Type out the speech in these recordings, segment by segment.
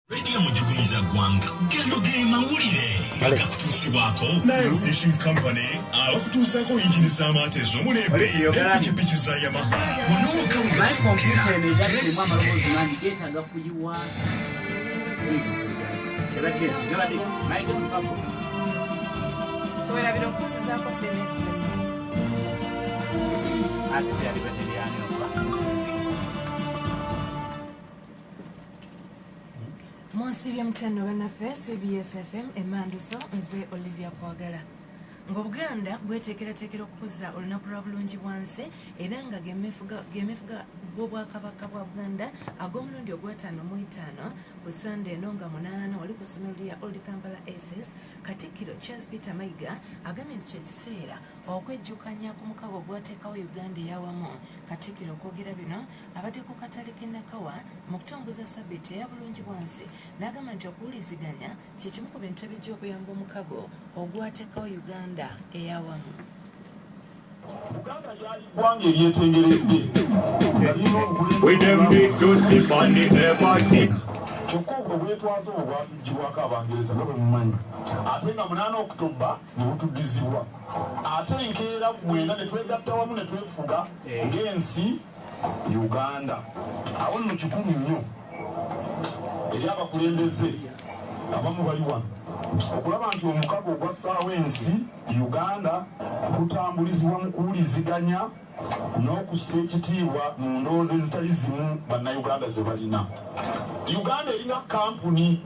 Radio Mujugumiza Gwanga. Gano ge mawulire agakutuusibwako Nile Fishing Company abakutuusaako yingini z'amaato ez'omulembe n'empikipiki za Yamaha. Wano wokka we gasookera. Ate byali badde byani okuba. munsi byemutyanno banaffe cbsfm emanduso nze olivia kwagala ng'obuganda bweteekerateekera okukuza olunaku lwa bulungi bwansi era nga gemefuga gw'obwakabaka bwa buganda ag'omulundi ogwataano mu etaano ku sande eno nga munaana wali ku ssomero lya old kampala ss katikkiro charles peter mayiga agambye nti kyekiseera okwejjukanya ku mukabo ogwateekawo uganda eyawamu katikkiro okwogera bino abadde ku katale k'e Nakawa mu kutongoza ssabbiiti eya Bulungibwansi n'agamba nti okuwuliziganya kye kimu ku bintu ebijja okuyamba omukago ogwateekawo Uganda eyawamu. Buganda lyali ggwanga eryetengeredde kyokka obwo bwetwaze obwo bwatuggyibwako abangereza nga bwe mumanyi ate nga munaana okutobba ne butuddizibwa ate enkeera ku mwenda ne twegatta wamu ne twefuga ng'ensi Uganda. Awo nno kikulu nnyo eri abakulembeze abamu bali wano okulaba nti omukago ogwassaawo ensi Uganda gutambulizibwa mu kuwuliziganya n'okussa ekitiibwa mu ndowooza ezitali zimu bannayuganda ze balina. Uganda erina kampuni,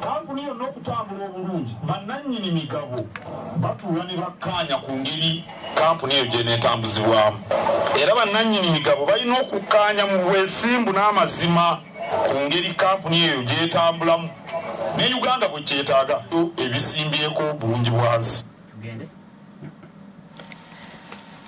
kampuni yonna okutambula obulungi bannannyini migabo batuula ne bakkaanya ku ngeri kkampuni eyo gyenetambuzibwamu era bannannyini migabo balina okukkaanya mu bwesimbu n'amazima ku ngeri kkampuni eyo gyetambulamu ne uganda bwe kyetaaga ebisimbyeko obulungi bwansi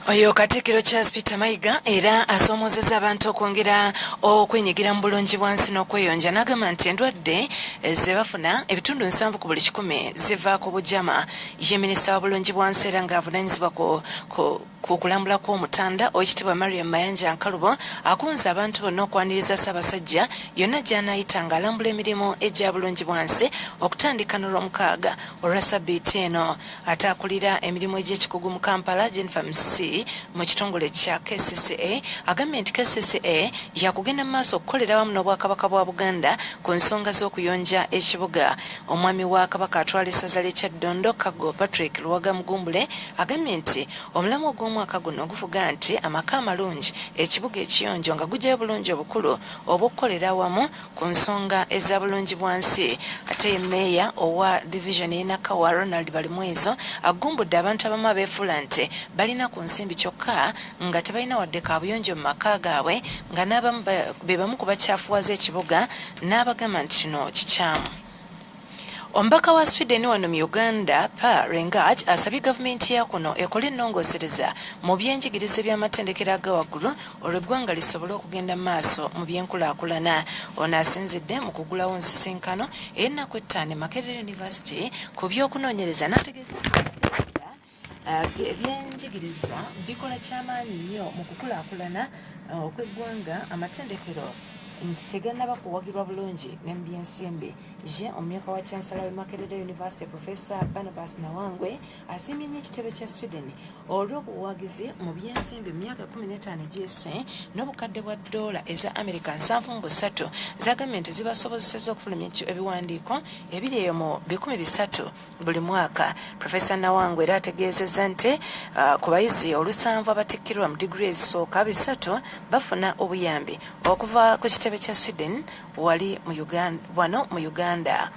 oyo katikiro charles peter mayiga era asoomozeza abantu okwongera okwenyigira mu bulungi bwansi n'okweyonja n'agamba nti endwadde zebafuna ebitundu nsanvu ku buli kikumi ziva ku bujama ye minisita wa bulungi bwa nsi era ng'avunaanyizibwa ku kulambula kw'omutanda owekitiibwa mariam mayanja nkalubo akunze abantu bonna okwaniriza ssaabasajja yonna gy'anaayita ng'alambula emirimu egya bulungi bwa nsi okutandika n'olwomukaaga olwa sabbiiti eno ate akulira emirimu egy'ekikugu mu kampala jennifer msi mu kitongole kya kcca agambye nti kcca yakugenda mu maaso okukolera awamu n'obwakabaka bwa buganda ku nsonga z'okuyonja ekibuga Omwami wa Kabaka atwala essaza ly'e Kyaddondo, Kaggo Patrick Luwaga Mugumbule agambye nti omulamwa ogw'omwaka guno guvuga nti amaka amalungi, ekibuga ekiyonjo nga gugyayo bulungi obukulu obw'okukolera awamu ku nsonga eza bulungi bwa nsi. Ate ye Meeya owa divizoni y'e Nakawa Ronald Balimwezo agumbudde abantu abamu abeefuula nti balina ku nsimbi kyokka nga tebalina wadde kaabuyonjo mu maka gaabwe nga n'abamu be bamu ku bakyafuwaza ekibuga n'abagamba nti kino kikyamu omubaka wa sweden wano mu uganda pa rengaj asabye gavumenti ya kuno ekole ennongoosereza mu byenjigiriza eby'amatendekero aga waggulu olwo eggwanga lisobole okugenda maaso mu byenkulaakulana ono asinzidde mu kugulawo nsisinkano ey'ennaku ettaano e makerere university ku by'okunoonyereza n'ategeeza Uh, ebyenjigiriza bikola kyamaanyi nnyo mu kukulaakulana uh, okw'eggwanga amatendekero nti tegannaba kuwagirwa bulungi ne mu byensimbi ye omumyuka wa chansala we makerere university profesa barnabas nawangwe asiimye nnyo ekitebe kya sweden olw'obuwagizi mu byensimbi mu myaka 15 egyese n'obukadde bwa doola eza america 73 zagambye nti zibasobozeseza okufulumya ebiwandiiko ebiri eyo mu 13 buli mwaka profesa nawangwe era ategeezezza nti uh, ku bayizi olusanvu abatikkirwa mu digiri ezisooka bisatu bafuna obuyambi okuva ku kitebe kya sweden wali wano mu uganda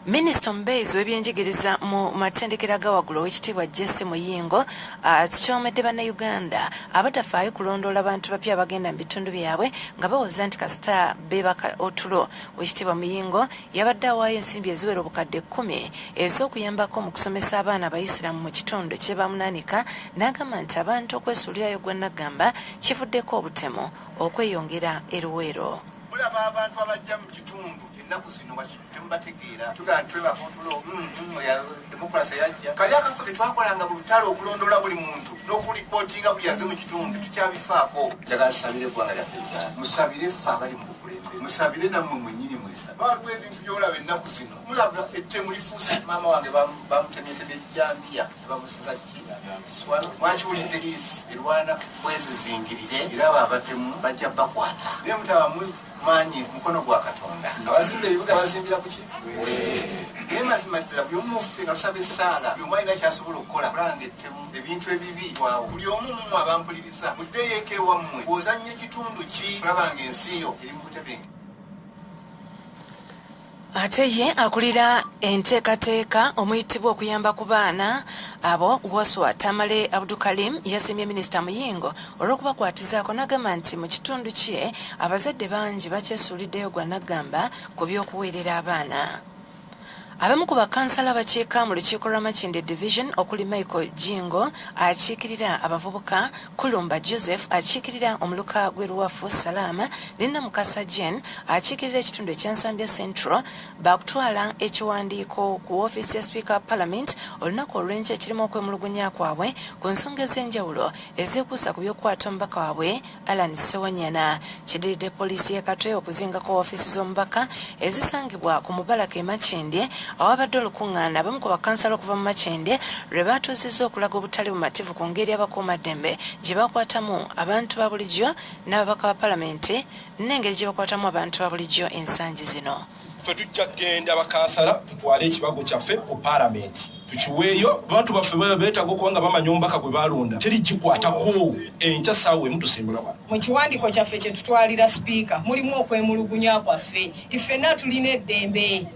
minisita omubeezi w'ebyenjigiriza mu matendekero gawagulu owekitiibwa jesse muyingo akikyomedde uh, bannayuganda abatafaayo kulondoola bantu bapya abagenda mu bitundu byabwe nga bawoza nti kasita bebaka otulo owekitiibwa muyingo yabadde awaayo ensimbi eziwera obukadde kkumi ez'okuyambako mu kusomesa abaana abayisiraamu mu kitundu kye bamunaanika n'agamba nti abantu okwesuulirayo gwa naggamba kivuddeko obutemu okweyongera e luweero mulaba abantu abajja mu kitundu ennaku zino temubategeera tugaa twebaka otulo mm, mm, demokurasi yajja kali akafo ke twakolanga mu lutalo okulondoola buli muntu n'okulipootinga buli aze mu kitundu tukyabifaako njagala tusabire eggwanga lyaffe musabire ffe abali mu musabire namwe mwenyini mwesa waliwo ebintu byolaba ennaku zino mulaba ettemu lifuuse maama wange bamutemyetebye jambiya bamusiza kiswala mwakiwulidde liisi erwana bwezizingirire era abo abatemu bajja bakwata naye mutaba maanyi mukono gwa katonda abazimba ebibuga bazimbira kuki naye mazima ddala buli omu muffe nga tusaba essaala buli omwalina kyasobola okukola kulanga ettemu ebintu ebibi waawo buli omu mumwe abampuliriza muddeyo eka ewammwe ozanya ekitundu ki olabanga ensi yo eri mu butebenge ate ye akulira enteekateeka omuyitibwa okuyamba ku baana abo waswa tamale abdukalim yasiimye minisita muyingo olw'okubakwatizaako n'agamba nti mu kitundu kye abazadde bangi bakyesuuliddeyo gwa naggamba ku by'okuweerera abaana Abamu ku bakansala abakiika mu lukiiko lwa Makindye Division okuli Michael Jjingo akiikirira abavubuka, Kulumba Joseph akiikirira omuluka gw'e Luwafu Salaama ne Namukasa Jane akiikirira ekitundu ekya Nsambya Central baakutwala ekiwandiiko ku woofiisi ya sipiika wa palamenti olunaku olw'enkya ekirimu okwemulugunya kwabwe ku nsonga ez'enjawulo ezeekuusa ku by'okukwata omubaka waabwe Alan Sewanyana kidiridde poliisi y'e Katwe okuzingako woofiisi z'omubaka ezisangibwa ku mubalaka e Makindye awabadde olukungaana abamu ku bakansala okuva mu Makindye lwe baatuuzizza okulaga obutali bumativu ku ngeri abakuumaddembe gye bakwatamu abantu ba bulijjo n'ababaka ba palamenti n'engeri gye bakwatamu abantu ba bulijjo ensangi zino. ffe tujja kugenda bakansala tutwale ekibago kyaffe ku paalamenti tukiweeyo abantu baffe baba beetaaga okuba nga bamanya omubaka gwe baalonda teri gikwatako enkya saawa emu tusimbula wano mu kiwandiiko kyaffe kye tutwalira sipiika mulimu okwemulugunya kwaffe ti ffenna tulina eddembe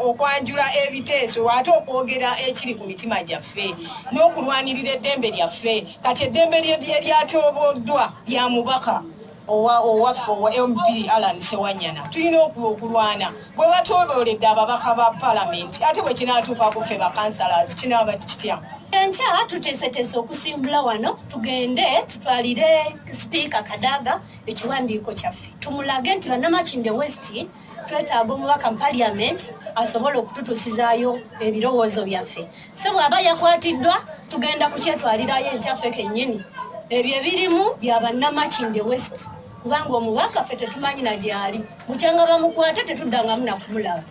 okwanjula ebiteeso ate okwogera ekiri ku mitima gyaffe n'okulwanirira eddembe lyaffe kati eddembe eryatooboddwa lya mubaka owa owaffe owa mp alan sewanyana tulina okulwana bwe batobooledde ababaka ba palamenti ate bwe kinaatuuka ku ffe bakansalas kinaaba kitya enkya tuteeseteese okusimbula wano tugende tutwalire sipiika kadaga ekiwandiiko kyaffe tumulage nti banamakinde westi twetaaga omubaka mu paliament asobola okututusizaayo ebirowoozo byaffe so bw'aba yakwatiddwa tugenda kukyetwalirayo enkyaffe kennyini ebyo ebirimu bya bannamakinde west kubanga omubaka ffe tetumanyi na gyali bukyanga bamukwate tetuddangamu nakumulaba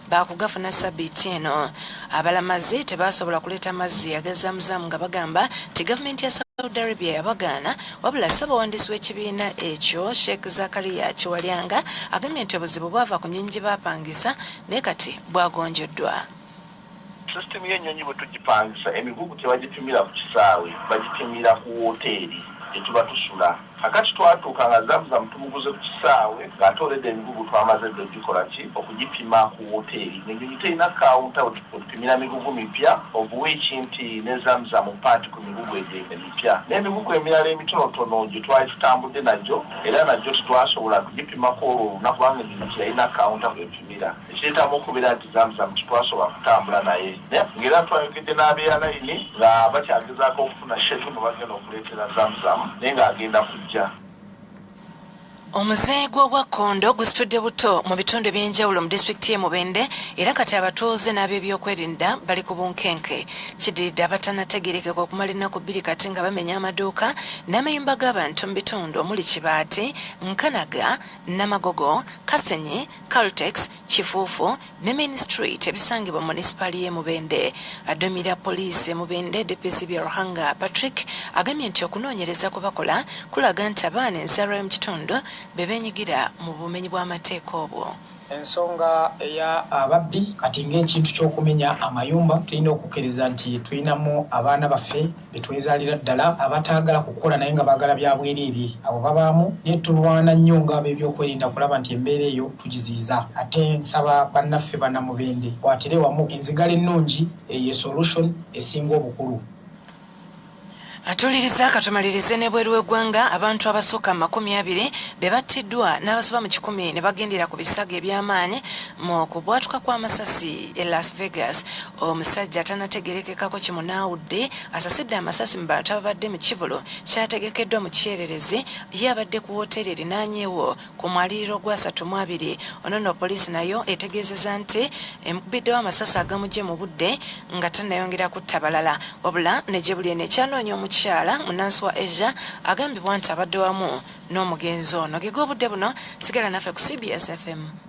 baakugafuna sabiiti eno abalamazi tebaasobola kuleeta mazzi agazamuzaamu nga bagamba nti gavumenti ya saudi arabia yabagaana wabula ssabawandiisi w'ekibiina ekyo sheikh zakariya kiwalyanga agambye nti obuzibu bwava ku nyonyi gye baapangisa naye kati bwagonjoddwa sisitemu y'ennyonyi bwe tugipangisa emigugu tebagipimira ku kisaawe bagipimira ku wooteeri gye tuba tusula Kakati twatuuka nga Zamzam tumuguze ku kisaawe nga ate already emigugu twamaze dda okugikola ki? Okugipima ku woteeri nga ennyonyi terina kawunta wetupimira migugu mipya of which nti ne Zamzam part ku migugu egyo emipya n'emigugu emirala emitonotono gye twali tutambudde nagyo era nagyo tetwasobola kugipimako olwo olunaku kubanga ennyonyi teyalina kawunta kwepimira. Ekyetaaga okubeera nti Zamzam tetwasobola kutambula naye nga era twayogedde n'abeyalayini nga bakyagezaako okufuna Sheikh mwe bagenda okuleetera Zamzam naye ng'agenda kujja. Omuze gw'obwa kkondo gusitudde buto mu bitundu eby'enjawulo mu disitulikiti y'e Mubende era kati abatuuze n'ab'ebyokwerinda bali ku bunkenke. Kiddiridde abatanategeerekeka okumala ennaku bbiri kati nga bamenya amaduuka n'amayumba g'abantu mu bitundu omuli Kibaati, Nkanaga, Namagogo, Kasenyi Caltex, Kifuufu ne Main Street ebisangibwa mu munisipaali y'e Mubende. Aduumira poliisi e Mubende, DPC Byaruhanga Patrick agambye nti okunoonyereza kwe bakola kulaga nti abaana enzaalwa y'omu kitundu be beenyigira mu bumenyi bw'amateeka obwo. Ensonga eya ababbi kati ng'ekintu ky'okumenya amayumba tulina okukkiriza nti tulinamu abaana baffe. be twezaalira ddala abataagala kukola naye nga baagala bya bwereere abo babaamu naye tulwana nnyo ng'ab'ebyokwerinda kulaba nti embeera eyo tugiziyiza ate nsaba bannaffe bannamubende kwatire wamu enzigala ennungi eyo esolution esinga obukulu atuuliriza katumalirize n'ebweru w'eggwanga abantu abasukka mu makumi abiri be battiddwa n'abasoba mu kikumi ne bagendera ku bisago eby'amaanyi Mu kubwatuka kw'amasasi e Las Vegas, omusajja atanategerekekako kimunaawudde asasidde amasasi mu bantu ababadde mu kivulu kyategekeddwa mu kyererezi ye abadde ku wooteeri erinaanyeewo ku mwaliriro gwa asatu mu abiri. Ono no poliisi nayo etegeezeza nti emukubiddewo amasasi agamugye mu budde nga tanayongera kutta balala wabula ne gye buli eno ekyanoonya omukyala munansi wa Asia agambibwa nti abadde wamu n'omugenzi ono. Ge g'obudde buno sigala naffe ku CBS FM.